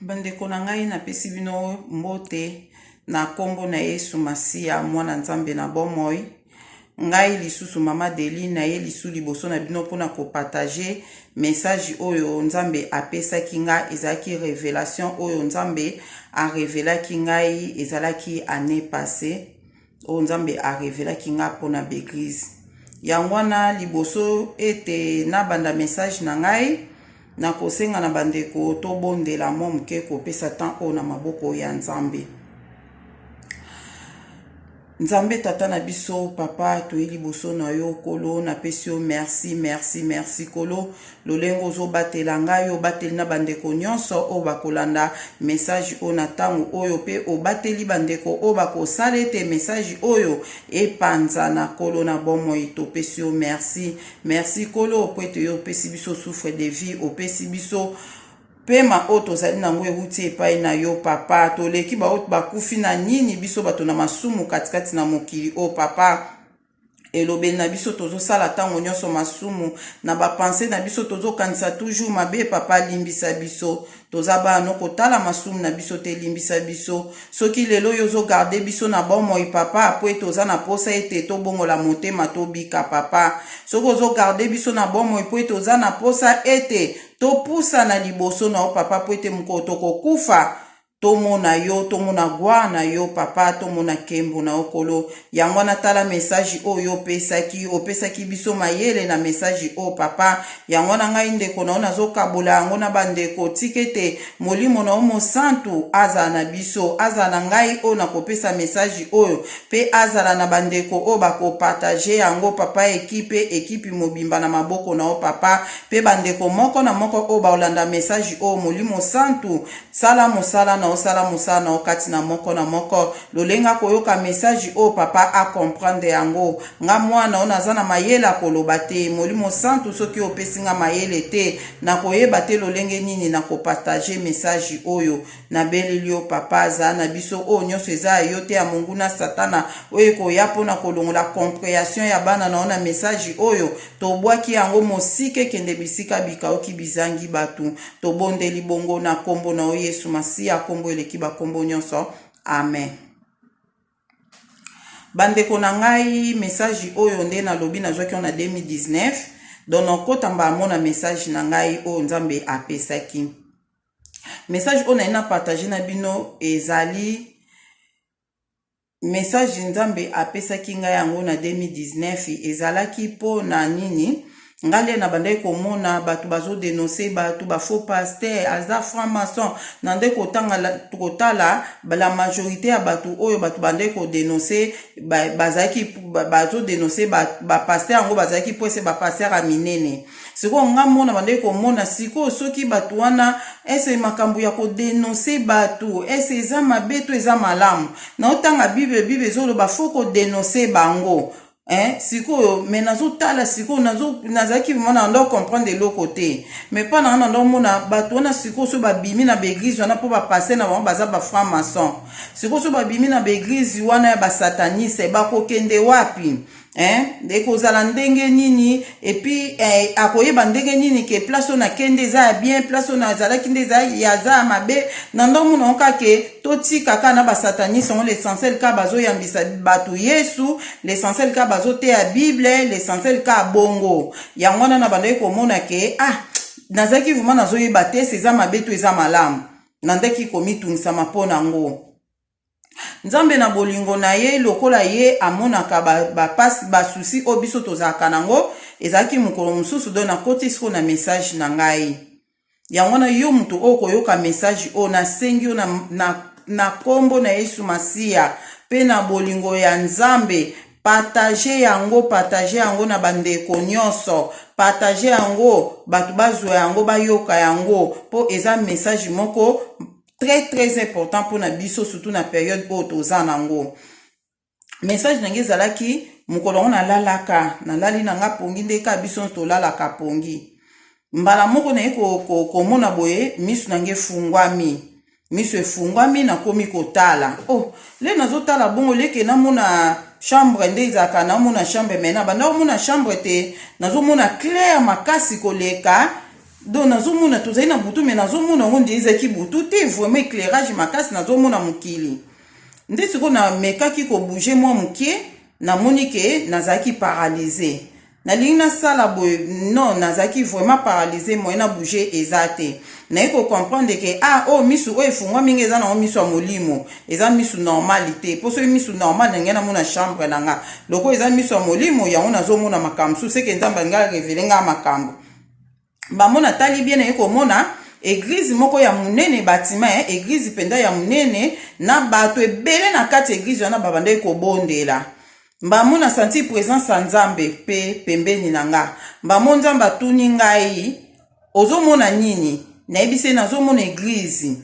Bandeko na ngai napesi bino mbote na nkombo na Yesu Masiya, mwana Nzambe na bomoi. Ngai lisusu mama Deli na ye lisu liboso na bino mpo na kopartage message oyo Nzambe apesaki ngai. Ezalaki revelation oyo Nzambe arevelaki ngai, ezalaki année passée. oyo Nzambe a revelaki nga mpo na b'eglise. Yango wana liboso ete nabanda message na ngai, nakosenga na bandeko tobondela mwa moke kopesa temps oyo na maboko ya Nzambe. Nzambe tata na biso papa toye liboso na yo kolo napesi yo merci merci merci kolo Lolenge ozo batela nga yo obateli na bandeko nionso oyo bakolanda message oyo na tango oyo pe obateli bandeko oyo bakosala ete message oyo epanzana kolo na bomoi topesi yo merci merci kolo po ete yo opesi biso souffre de vie opesi biso pema oyo tozali na yango ewuti epai na yo papa toleki baoyo bakufi na nini biso bato na masumu katikati na mokili oyo papa elobeli na biso tozosala ntango nyonso masumu na bapense na biso tozokanisa toujours mabe papa limbisa biso toza bano kotala masumu na biso te limbisa biso soki lelo oyo ozogarde biso na bomoi papa mpo ete oza na mposa ete tobongola motema tobika papa soki ozogarde biso na bomoi mpo ete oza na mposa ete topusa na liboso na yo papa mpo ete mokolo tokokufa tomona yo tomona gloire na yo papa tomona nkembo na yo kolo yango wana tala mesaje oyo opesaki opesaki biso mayele na mesaje oyo papa yango wana ngai ndeko na yo nazokabola yango na bandeko tika ete molimo na yo mosantu azala na biso azala na ngai oyo nakopesa mesaje oyo mpe azala na bandeko oyo bakopartage yango papa ekipe ekipi mobimba na maboko na yo papa mpe bandeko moko na moko oyo baolanda mesaje oyo molimo santu Sala mosala na yo, sala mosala na yo kati na moko na moko. Lolenge akoyoka message oyo, Papa a comprendre yango. Nga mwana na yo, naza na mayele ya koloba te. Molimo Santu, soki opesi nga mayele te, nakoyeba te lolenge nini na ko partager message oyo. Nabeleli yo, Papa, zala na biso. Oyo nionso eza ya yo te, ya monguna Satana, oyo ekoya mpo na kolongola comprehension ya bana na yo na message oyo. Tobwaki yango mosika ekende bisika bikauki bizangi bato. Tobondeli bongo na Kombo na yo Yesu Masiya, Kombo eleki bakombo nyonso. Amen. Bandeko na ngai, message oyo nde nalobi nazwaki yango na 2019. Donc nakota mbala moko na message na ngai oyo Nzambe apesaki. Message oyo naye na partage na bino ezali message nzambe apesaki ngai yango na 2019 ezalaki mpo na nini ngai nde nabandaki komona bato bazodenonse bato bafaux paster aza franc maçon na nde kotala la majorité ya bato oyo bato bandaki kodenonse bazalaki bazodenonse bapaster yango bazalaki mpo ese bapaster ya minene Sikoyo nga moko nabandaki komona sikoyo soki batu wana est ce makambu ya ko denoncer batu est ce eza mabe to eza malamu? Naotanga bible bible ezoloba faut ko denoncer bango eh sikoyo mais nazotala sikoyo nazo nazalaki vraiment na ndo comprendre eloko te mais pa nanga na ndo mona bato wana sikoyo so babimi na baeglise wana mpo bapasse na bango baza ba franc maçon sikoyo so babimi na baeglise wana ya basataniste bakokende wapi eh, ekozala ndenge nini epuis eh, akoyeba ndenge nini ke place oyo nake nde eza ya bien place oyo nazalaki nde eza ya mabe na ndo omona oka ke totika kaka na basataniste yango l'essentiel kaka bazoyambisa bato yesu l'essentiel kaka bazoteya bible l'essentiel kaka bongo yango wana na bandaki komona ke ah nazalaki vraimen nazoyeba te se eza mabe to eza malamu nandaki komitunisama mpo na yango Nzambe na bolingo na ye, lokola ye amonaka ba ba pasi ba soucis oyo biso tozalaka na ngo, ezalaki mokolo mosusu donc na koti sikoyo na message na ngai yango wana yo moto oyo koyoka message oyo na sengi yo na na na kombo na yesu masiya pe na bolingo ya nzambe partage yango partage yango na ba ndeko nionso partage yango bato bazua yango bayoka yango po eza message moko très très important mpo na biso surtout na periode oyo toza nango message na ngai ezalaki mokolo yango nalalaka nalali na nga pongi nde ka biso tolalaka pongi mbala moko naye komona ko, ko boye miso na ngai efungwami miso efungwami nakomi kotala oh le nazotala bongo leke namona chambre nde ezalaka namona chambre mai nabanda komona chambre te nazomona claire makasi koleka Donc nazomona tozali na butu mais nazomona yango nde ezalaki butu te vraiment éclairage makasi nazomona mokili nde sikoyo namekaki kobouge mwa moke namoni ke nazalaki paralyse nalingi nasala boye non nazalaki vraiment paralyse moye na bouge eza te naye kocomprendre ke ah oyo oh, misu oyo efungwa mingi eza nango misu ya molimo eza misu normale te mpo soki misu normale nangai namona chambre na nga lokola eza misu ya molimo yango nazomona makambo mosusu seke nzambe alingi arevele ngai makambo bango natali bien naye komona eglize moko ya monene batima eh, eglize mpenza ya monene na bato ebele na kati eglize wana babandaki kobondela mbamo na santi presence ya nzambe mpe pembeni na nga mbamo nzambe atuni ngai ozomona nini nayebisi ye nazomona eglize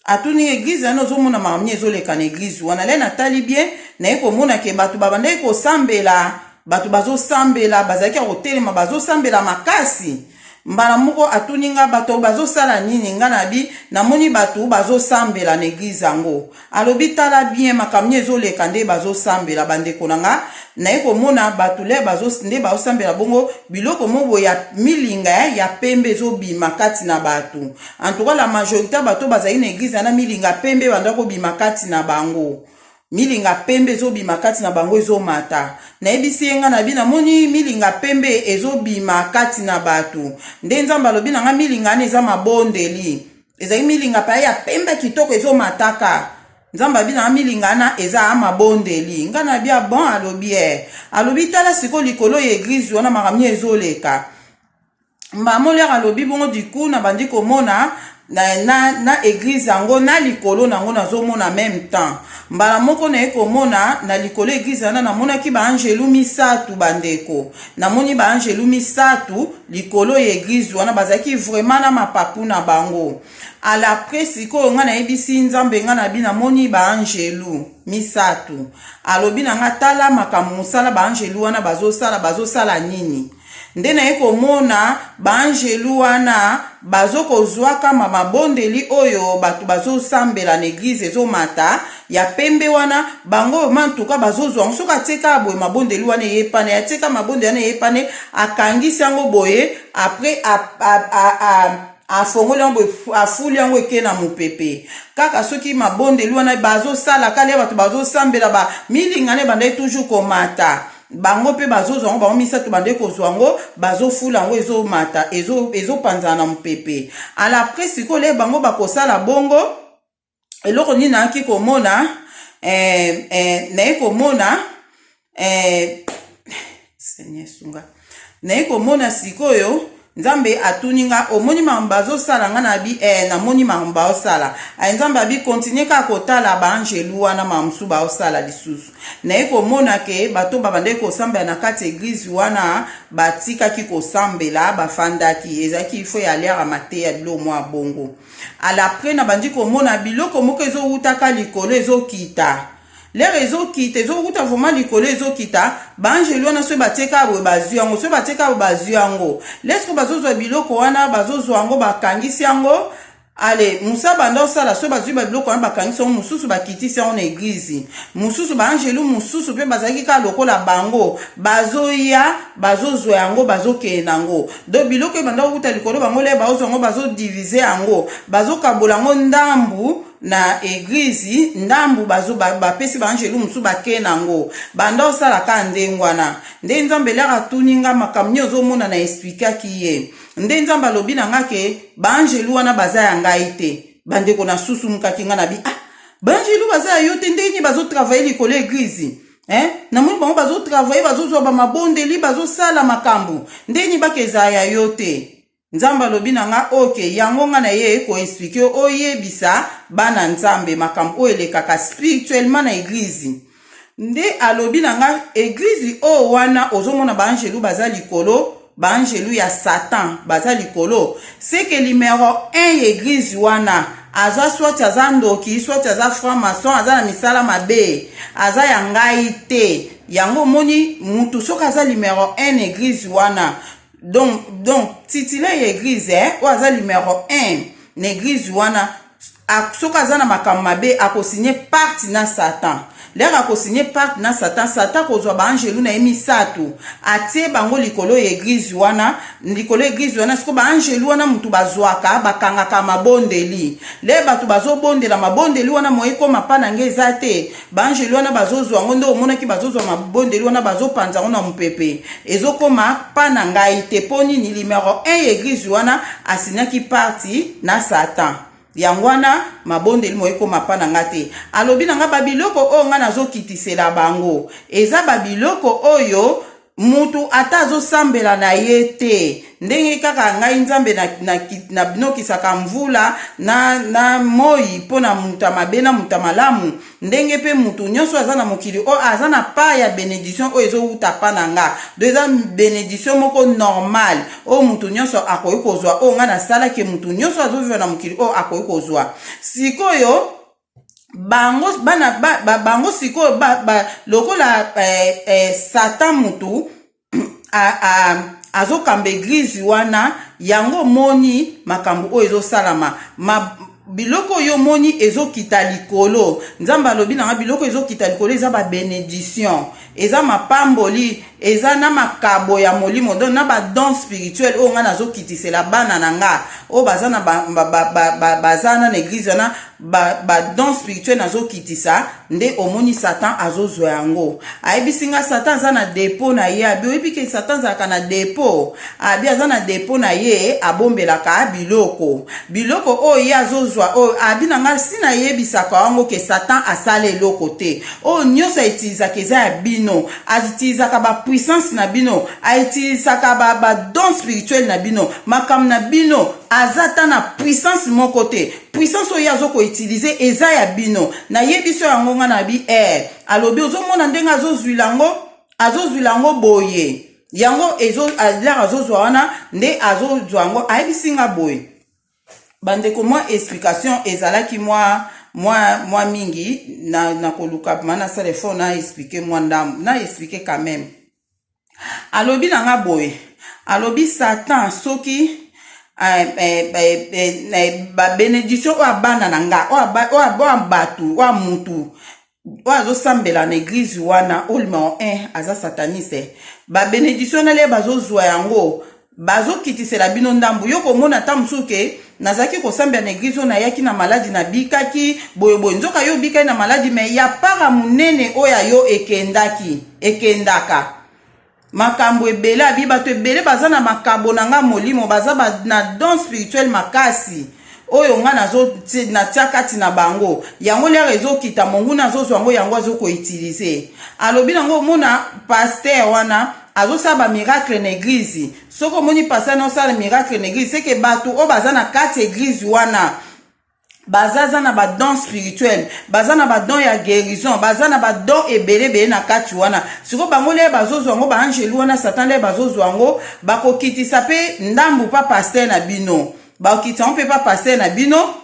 atuni eglise wana ozomona mamie ezoleka na eglise wana le natali bien naye komona ke bato babandaki kosambela bato bazosambela bazalaki ya kotelema bazosambela makasi mbala moko atuni nga bato bazosala nini nga nabi namoni bato bazosambela na eglise yango alobi tala bien makambo nini ezoleka nde bazosambela bandeko na nga naye komona bato le nde bazosambela bongo biloko mobo ya milinga ya pembe ezobima kati na bato En tout cas la majorité ya bato bazali na eglise wana milinga pembe banda kobima kati na bango milinga pembe ezobima kati na bango ezomata nayebisi ye ngai na bino namoni milinga pembe ezobima kati na bato nde nzambe alobi na ngai milinga wana eza mabondeli ezali milinga paya ya pembe kitoko ezomataka nzambe abi na milinga wana eza mabondeli ngai na bia bon alobi e alobi tala sikoyo likolo ya eglize wana makambo ezoleka Maman Lera alobi bongo du coup na bandi komona na, na, na eglise yango na likolo na yango nazomona meme temps mbala moko naye komona na likolo eglise wana namonaki baangelu misato bandeko namoni baangelu misato likolo ya eglise wana bazalaki vraiment na mapapu na bango alapre sikoyo ngai nayebisi nzambe ngai nabi namoni baangelu misato alobi na ngai tala makambo mosala baangelu wana bazosala bazosala nini Nde naye komona ba angelu wana bazo kozua kama mabondeli oyo batu bazo sambela na eglise ezo mata ya pembe wana bango vraiment en tout cas bazo zua yango soki atie kaka boye mabondeli wana eye pane atie kaka mabondeli wana eye pane akangisi yango boye après a, a, a, a, afongoli yango boye afuli yango eke na mopepe kaka soki mabondeli wana bazosala kale bato bazosambela ba milingana ebandaki toujours komata bango mpe bazozwa yango bango misato bandeki kozwa yango bazofula yango ezomata ezopanzana na mopepe ala pre sikoyo le bango bakosala bongo eloko nini nayaki komona eh, eh, naye komona eh, seigneur sunga naye komona sikoyo Nzambe atuni nga omoni makambo bazosala nga na bi eh, namoni makambo baosala aye Nzambe abi continue kaka kotala baangelu wana makambo mosusu baosala lisusu naye komona ke bato babandaki kosambela na kati eglize wana batikaki kosambela bafandaki ezalaki ifo ya aliaka mateya biloko mwa bongo alapre nabandi komona biloko moko ezowutaka likolo ezokita Lere ezokita ezowuta vrema likolo ezokita baangelu wana soki batie kaka boye bazwi yango soki batie kaka boye bazwi yango lesko bazozwa biloko wana bazozwa yango bakangisi yango ale mosa banda osala soki bazwi babiloko wana bakangisi yango mosusu bakitisi yango na eglize mosusu baangelu mosusu mpe bazalaki kaka lokola bango bazoya bazozwa yango bazokeye na yango do biloko ebanda kowuta likolo bango le baozwa yango bazodivize yango bazokabola yango ndambu na eglize ndambu bazo bapesi ba baangelu mosusu bakei na yango banda osala kaka ndenge wana nde nzambe eliaka atuni nga makambo nini ozomona na esplikaki ye nde nzambe alobi na nga ke baangelu wana baza ya ngai te bandeko na susu mokaki nga na bi ah baangelu baza ya yo te ndenge nini bazotravaille likolo eglize Eh? namoni bango bazotravaille bazozwa bamabondeli bazosala makambo ndenge nini baka ezala ya yo te Nzambe alobi na nga ok yango nga na ye ko explique yo oyebisa bana Nzambe makambo oyo elekaka spirituellement na eglise nde alobi na nga eglise oyo wana ozomona ba angelu baza likolo baangelu ya satan baza likolo seke numero 1 ya eglize wana aza swati aza ndoki swati aza franc maçon aza na misala mabe aza ya ngai te yango omoni mutu soki aza numero 1 na eglize wana donc donc titulaire ya eglise eh, oyo aza numero 1 na eglise wana soki aza na makambo mabe akosigne parti na satan lere akosigne parti na satan satan akozwa baangelu na ye misato atie bango likolo ya eglize wana likolo ya eglize wana sikoyo baangelu wana motu bazwaka bakangaka mabondeli le bato bazobondela mabondeli wana moye ekoma mpa na ngai eza te baangeli wana bazozwa yango nde omonaki bazozwa mabondeli wana bazopanza yango na mopepe ezokoma pa na ngai te mpo nini limero 1 ya eglize wana asinaki parti na satan yango wana mabondeli moye ekoma pa na ngai te alobi na ngai babiloko oyo ngai nazokitisela bango eza babiloko oyo mutu ata azosambela na ye te ndenge kaka ngai nzambe nabinokisaka na, na, na mvula na, na moi mpo na moto ya mabe na moto ya malamu ndenge mpe moto nyonso aza na mokili oyo aza na pa ya benediction oyo ezowuta pa na nga do eza benediction moko normal oyo moto nyonso akoki kozwa oyo ngai nasalaki moto nyonso azoviva na mokili oyo akoki kozwa sikoyo bango bana ba, ba, bango sikoyo ba, ba, lokola eh, eh, satan mutu azokamba eglize wana yango omoni makambo oyo ezosalama ma, biloko oyo omoni ezokita likolo nzambe alobi nanga biloko ezokita likolo eza babenediction eza mapamboli eza na makabo ya molimo donc na badon spirituel oyo ngai nazokitisela bana na nga oyo baza na baza na na eglize wana badon spirituel nazokitisa nde omoni satan azozwa yango ayebisi ngai satan aza na depo na ye abi oyebi ke satan azalaka na depo abi aza na depo na ye abombelaka biloko biloko oyo ye azozwa oyo abi na ngai si nayebisaka yango ke satan asala eloko te oyo oh, nyonso aitilisaka eza ya bino aitilisaka bapuissance na bino aitilisaka badon ba spirituel na bino makambo na bino aza ata na puissance moko te puissance oyo ye azo koutilize eza ya bino nayebi so yango ngai nabi e eh, alobi ozomona ndenge azozwila yango azozwila yango boye yango ezo lere azozwa wana nde azozwa yango ayebisi ngai boye bandeko mwa explication ezalaki mwa mwa mwa mingi na na koluka ma nasala efo na explike mwa ndambo na explike quand même alobi na nga boye alobi satan soki Eh, eh, eh, babenediction oyo abana na nga oyo bato oyo mutu oyo azosambela na eglize wana olima o eh, aza sataniste babenediktio na lie bazozwa yango bazokitisela bino ndambu yo komona ata mosusu ke nazalaki kosambela na eglize oyo nayaki na maladi nabikaki boyeboye nzoka yo obikaki na maladi me ya para monene oyo ya yo ekendaki ekendaka makambo ebele abi bato ebele baza na makabo na nga molimo baza ba, na don spirituel makasi oyo nga natia kati na bango yango liaka ezokita monguna azozwa yango yango azokoutilize alobi nango omona paster wana azosala bamiracle na eglize soki omoni paster na osala miracle na eglize seke bato oyo baza na kati ya eglize wana baza za na badon spirituel baza na badon ya guérison baza na badon ebele ebele na kati wana sikoyo bango lie bazozwa yango baangelu wana satan lie bazozwa yango bakokitisa mpe ndambu pa paster na bino bakokitisa yango mpe pa paster na bino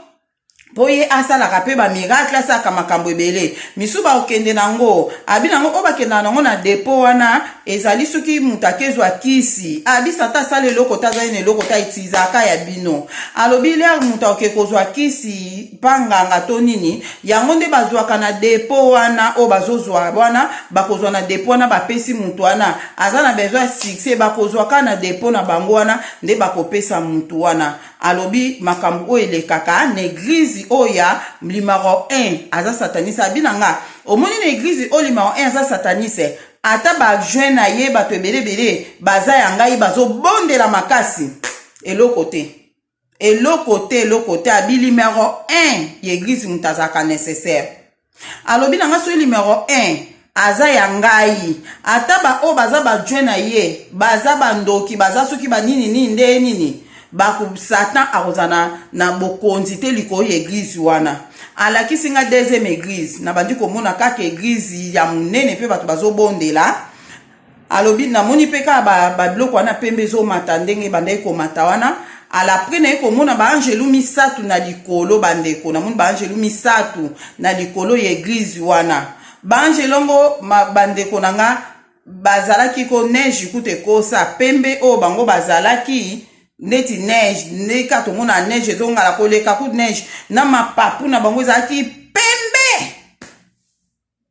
mpo ye asalaka mpe bamiracle asalaka makambo ebele misusu bakokende na yango abi na yango oyo bakendaka na yango na depo wana ezali soki moto akezwa kisi abisa ata asala eloko te azali na eloko te aitizaka ya bino alobi lere moto akoke kozwa kisi mpa nganga to nini yango nde bazwaka na depo wana oyo bazozwa wana bakozwa na depo wana bapesi moto wana aza na besoin ya succès bakozwa kaka na depo na bango wana nde bakopesa moto wana alobi makambo oyo elekaka na eglize oyo ya limaro 1 aza satanise abi na nga omoni na eglize oyo limaro 1 aza satanise ata ba juin na ye bato ebele ebele baza ya ngai bazobondela makasi eloko te eloko te eloko te abi numero 1 ya eglize moto azalaka necessaire alobi na ngai soki numero 1 aza ya ngai ata baoyo baza bajue na ye baza bandoki baza soki banini nini nde nini bako satan akozala na, na bokonzi te likolo ya eglize wana alakisi nga deuxième eglize nabandi komona kaka eglize ya monene mpe bato bazobondela alobi namoni mpe kaka babiloko ba wana pembe ezomata ndenge ebandaki komata wana alapres naye komona baangelu misato na likolo bandeko namoni baangelu misato na likolo ya eglize wana baangelu yango bandeko na nga bazalaki ko neige kutu ekosa pembe oyo bango bazalaki neti neige ndenge kaka tomona neige ezongala koleka kutu neige na mapapu na bango ezalaki pembe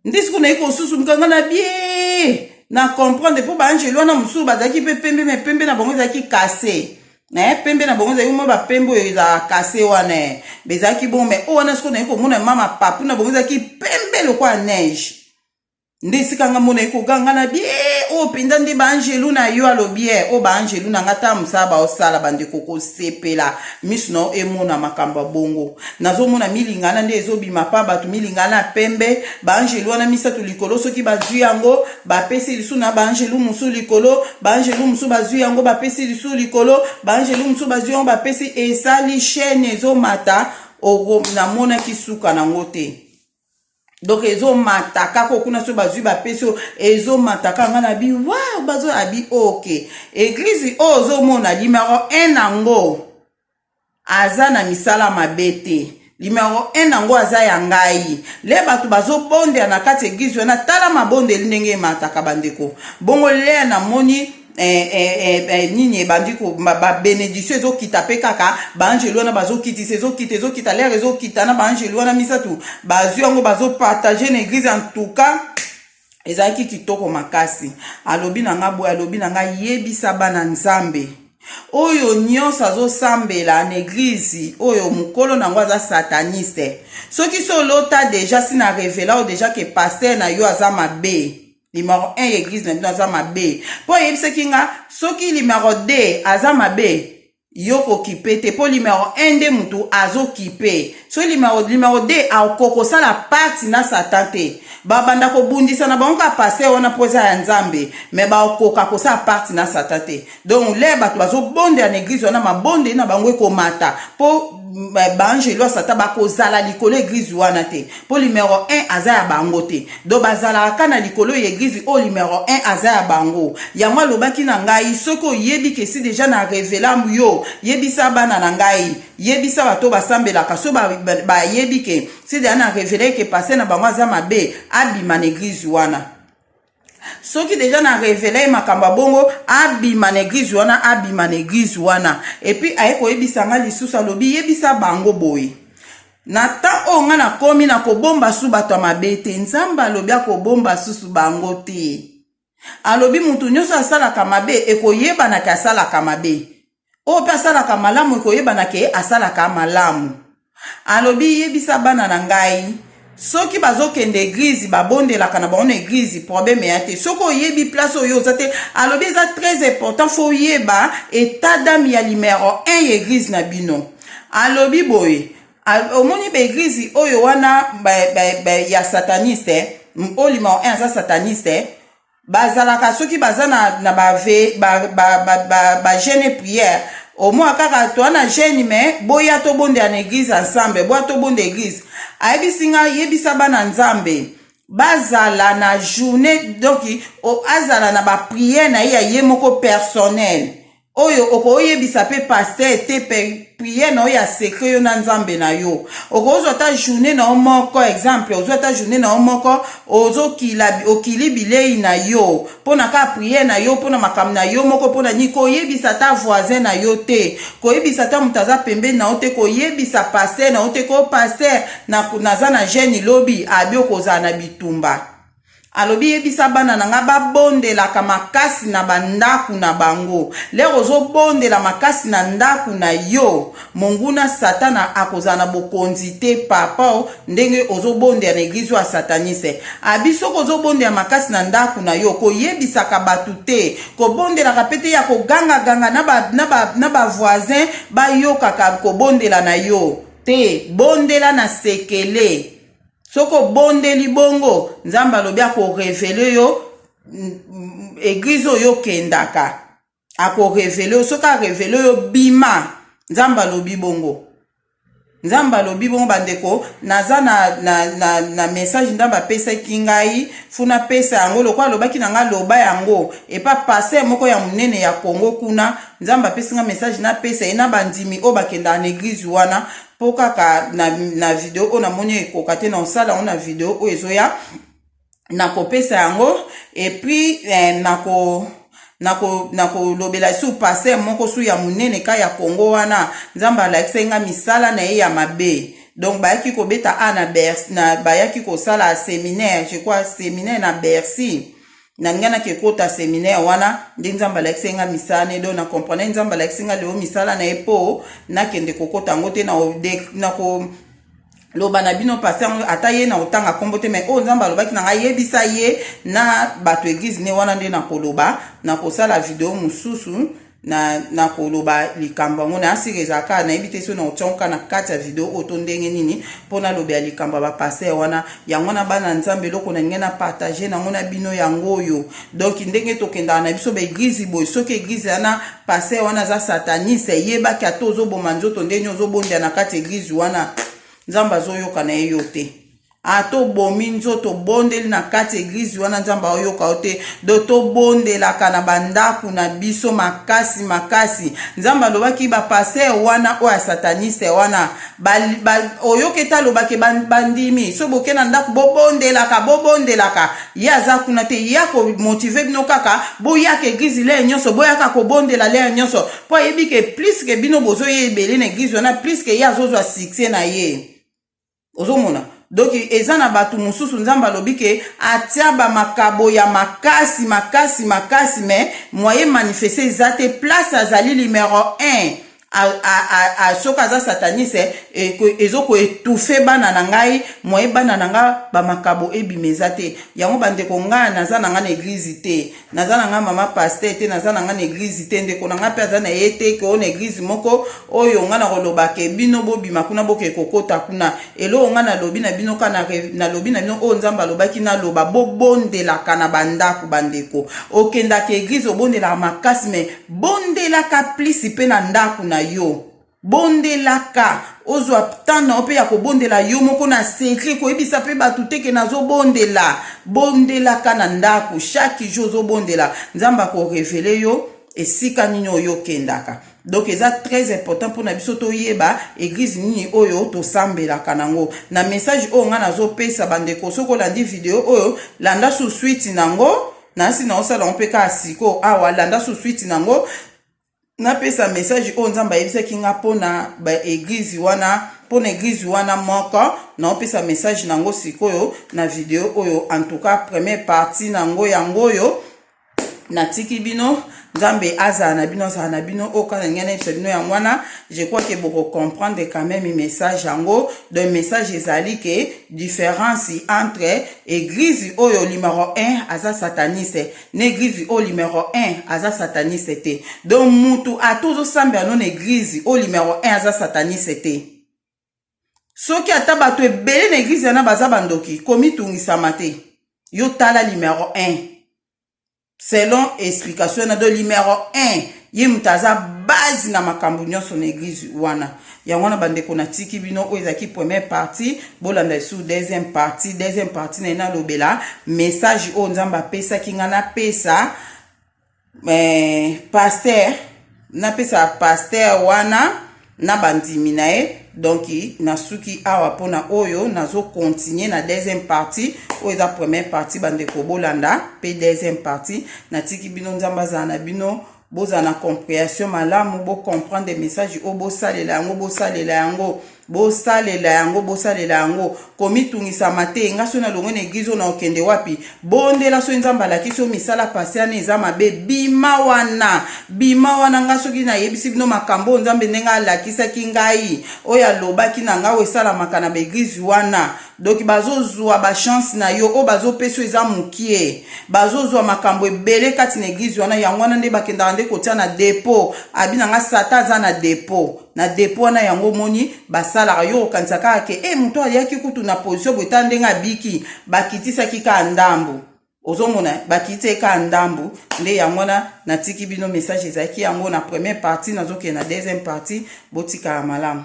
nde sikoyo nayi kosusu mokanga na bie na comprendre mpo baangelo wana mosusu bazalaki mpe pembe me pembe na bango ezalaki kase eh, pembe na bango ezalaki mwa bapembe oyo ezalaka kase wana eh. bezalaki bongo me oyo wana sikoyo nayi komona mama papu na bango ezalaki pembe lokola neige nde esika nga mona ekoganga na bie oyo oh, mpenza nde baangelu na yo alobi ye oyo oh, baangelu na nga ta mosala baosala bandeko kosepela miso na yo emona makambo ya bongo nazomona milingana nde ezobima mpa bato milingana ya pembe baangelu wana misato likolo soki bazwi yango bapesi lisu na baangelu mosusu likolo baangelu mosusu bazwi yango bapesi lisu likolo baangelu mosusu bazwi yango bapesi esali chaine ezomata namonaki suka nango te donc ezomata kaka okuna so bazwi bapesi oyo ezomata kaka nga na bi wa bazo abi ok eglize oyo ozomona limero 1 yango aza na misala mabe te limero 1 yango aza ya ngai le bato bazobondela na kati eglize wana tala mabondeli ndenge emataka bandeko bongo le namoni eh, eh, eh, eh, nini ebandi babenediktio ezokita mpe kaka baangelu wana bazokitisa ezokita ezokita lere ezokita na baangelu wana misato bazwi yango bazopartage na eglise en tout cas ezalaki kitoko makasi alobi na ngai boye alobi na ngai yebisa bana nzambe oyo nyonso azosambela na eglize oyo mokolo na yango aza sataniste soki solota deja si na revela oyo deja ke paster na yo aza mabe Numéro 1 ya église na bino aza mabe. Po yebisaki nga soki numéro 2 aza mabe yo kokipe te mpo limero 1 nde motu azokipe so limero, limero 2 akokosala pati na satan te babanda kobundisa na bango kaka paster wana mpo eza ya nzambe me bakoka kosala pati na satan te donc le bato bazobondela na eglize wana mabondeli na bango ekomata mpo baangelu ya satan bakozala likolo eglize wana te mpo limero 1 aza ya bango te do bazalaka ka na likolo ya eglize oyo limero 1 aza ya bango yango alobaki na ngai soki oyebi kesi deja na revela yo yebisa bana na ngai yebisa bato basambelaka so bayebi ke si deja na revela eke pase na bango aza mabe abima na eglize wana soki deja na revela ye makambo ya bongo abima na eglize wana abima na eglize wana epuis aye koyebisa nga lisusu alobi yebisa bango boye na temps oyo nga nakomi na kobomba su bato ya mabe te nzambe alobi akobomba susu bango te alobi moto nyonso asalaka mabe ekoyebanaka asalaka mabe oyo mpe asalaka malamu ekoyebana ke asalaka malamu alobi yebisa bana na ngai soki bazokende eglize babondelaka na bango na eglize probleme ya te soki oyebi place oyo oza te alobi eza très important fo oyeba etat dame ya limero 1 ya eglize na bino alobi boye omoni baeglize oyo wana ba, ba, ba, ya sataniste oyo limero 1 aza sataniste bazalaka soki baza na, na bave bagene ba, ba, ba, ba prière omwa kaka toa na gene me boya tobondela na eglize ensemble boya tobonda eglize ayebisi ngai yebisa bana nzambe bazala na journée donc azala na baprière na ye ya ye moko personnel oyo okoyebisa mpe paster te priere na yo ya secret yo na nzambe na yo okozwa ata journée na yo moko exemple ozwa ata journée na yo moko ozokila okili bilei na yo mpo na kaka priere na yo mpo na makambo na yo moko mpo na nini koyebisa ata voisin na yo te koyebisa ata moto aza pembeni na yo te koyebisa paster na yo te ko paster naza na gene lobi abi okozala na bitumba alobi yebisa bana na ngai babondelaka makasi na bandako na bango lere ozobondela makasi na ndako na yo monguna satana akozala na bokonzi te papa ndenge ozobondela na eglize ya sataniste abi soki ozobondela makasi na ndako na yo koyebisaka bato te kobondelaka mpe te ya kogangaganga na bavoisin bayokaka kobondela na yo te bondela na sekele soki obondeli bongo nzambe alobi akorevele yo eglize oyo okendaka akorevele yo soki arevele yo bima nzambe alobi bongo nzambe alobi bongo bandeko naza na, na, na, na message nzambe apesaki ngai fo napesa yango lokola alobaki na ngai loba yango epa paster moko ya monene ya kongo kuna nzambe apesi ngai message napesa ye na bandimi oyo bakendaka na eglize wana mpo kaka na, na video oyo namoni ekoka te na osala yango na video oyo ezoya nakopesa yango epuis eh, nako nakolobela na su paster moko su ya monene ka ya kongo wana nzambe alakisaki ngai misala na ye ya mabe donc bayaki kobeta a na, na bayaki kosala seminaire je crois seminaire na bercy na ngai nake kota seminaire wana nde nzambe alakisi ngai misala ne do na comprendre nzambe alakisi ngai lelo misala na ye mpo nakende kokota yango te na ko loba na bino pasi yango ata ye na kotanga nkombo te mai oyo nzambe alobaki na ngai yebisa ye na bato eglize ne wana nde nakoloba nakosala video mosusu na nakoloba likambo yango na asika ezalaka nayebi te so na otiangoka na kati ya video oyo to ndenge nini mpo nalobela likambo ya bapaster wana yango wana bana nzambe eloko nalingi na partage nango na bino yango oyo donk ndenge tokendaka na biso baeglize boye soki eglize wana paster wana aza sataniste eyebaki ata ozoboma nzoto ndenge ozobonda na kati ya eglize wana nzambe azoyoka na ye yo te a ah, tobomi nzoto obondeli na kati eglize wana nzambe aoyoka yo te do tobondelaka na bandako na biso makasi makasi nzambe alobaki bapaster wana oyo ya sataniste wana oyoki ete alobaki bandimi so boke na ndako bobondelaka bobondelaka ye aza kuna te ye akomotive bino kaka boyaka eglize leye nyonso boyaka kobondela leye nyonso mpo ayebi ke pliske bino bozoya ebele na eglize wana pliske ye azozwa succès na ye ozomona donc eza na bato mosusu nzambe alobi ke atia bamakabo ya makasi makasi makasi me moye manifeste eza te place azali numero 1 soki aza sataniste e, ezokoetufe bana na ngai moye bana na ngai bamakabo ebima eza te yango bandeko ngai naza na ngai na eglize te naza na ngai mama paster te naza na ngai na eglize te ndeko na ngai mpe aza na ye te koo na eglize moko oyo ngai nakolobake bino bobima kuna bokee kokota kuna eloko ngai nalobi na bino ka nalobi na bino oyo nzambe alobaki naloba bobondelaka na bandako bandeko okendaka eglize obondelaka makasi me bondelaka plisi mpe na ndako na yo bondelaka ozwa temps na yo mpe ya kobondela yo moko na secret koyebisa mpe bato te ke nazobondela bondelaka na ndako chaque jour ozobondela nzambe akorevele yo esika nini oyo okendaka donc eza très important mpona biso toyeba eglize nini oyo tosambelaka nango na message oyo ngai nazopesa bandeko soki olandi video oyo landa susuiti nango nasi naosala yango mpe kaka sikoyo awa landa susuiti nango napesa message oyo nzambe ayebisaki nga mpo na baeglize wana mpo na eglize wana moko naopesa message na yango sikoyo na video oyo antuka premier parti na yango yango oyo natiki bino nzambe azala na bino azala na bino oyo kaka ndenge nayebisa bino yango wana je crois ke bokocomprendre quand même message yango donc message ezali ke différence entre eglize oyo limaro 1 aza sataniste na eglize oyo numero 1 aza sataniste te donc mutu ata ozosambela no na eglize oyo numero 1 aza sataniste te soki ata bato ebele na eglize wana baza bandoki komitungisama te yo tala numero 1 selon explication na do numero 1 ye moto aza base na makambo nyonso na eglize wana yango wana bandeko natiki bino oyo ezalaki première partie bolanda lisusu deuxième partie deuxième partie na ye nalobela message oyo nzambe apesaki ngai napesa eh, paster napesa paster wana na bandimi na ye donc nasuki awa mpona oyo nazo continue na deuxième partie oyo eza première partie bandeko bolanda mpe deuxième partie natiki bino nzambe azala na bino bozala na comprehension malamu bocomprendre message oyo bosalela yango bosalela yango bosalela yango bosalela yango komitungisama te nga soki nalongwe na eglize oyo naokende wapi bondela soki nzambe alakisi yo misala pasi wana eza mabe bima wana bima wana nga soki nayebisi bino makambo oyo nzambe ndenge alakisaki ngai oyo alobaki na ngai oyo esalamaka na baeglize wana donki bazozwa bachance na yo oyo bazopesi yo eza mokie bazozwa makambo ebele kati na eglize wana yango wana nde bakendaka nde kotia na depo abi na ngai sata aza na depo na depo wana yango omoni basalaka yo okanisa kaka ke e moto ayaki kutu na position boye tala ndenge abiki bakitisaki kaka ndambo ozomona bakitisaki kaka ndambo nde yango wana natiki bino message ezalaki yango na première partie nazokende na deuxième partie botikala malamu